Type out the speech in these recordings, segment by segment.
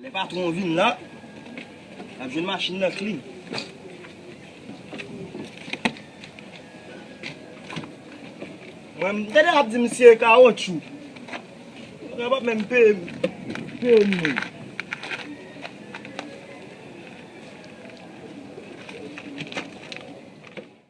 Lè patwon an vin la, l ap jwenn machin nan klin. Mwen m tande l ap di misye e kawotchou. Yo pa ap menm peye m. Peye m menm.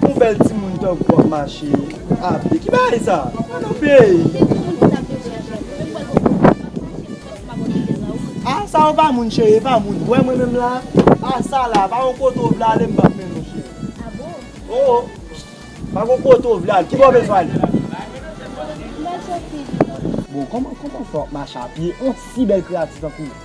Bon bèl timoun tankou wap mache apye ki bagay sa pa nan peyi. Ah sa yo pa moun chérie epa moun wè mwen menm la ah sa la pa yon kote ou vle ale m pap mennen w chérie oh pa gon kote ou vle ale ki bò bezwen ale bon kòman fè wap mache apye yon si bèl kreyati tankou w.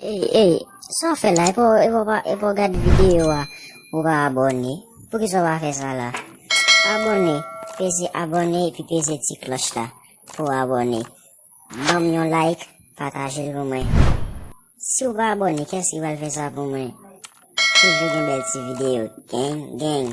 Ey ey sa w fè la epa w gad video a ou pa abone poukisa w pa fè sa la abone peze abone epi peze ti klòch la pou w abone banm yon like pataje l pou mwen si w pa abone kès ki pral fè sa pou mwen toujou gen bèl ti video gang gang.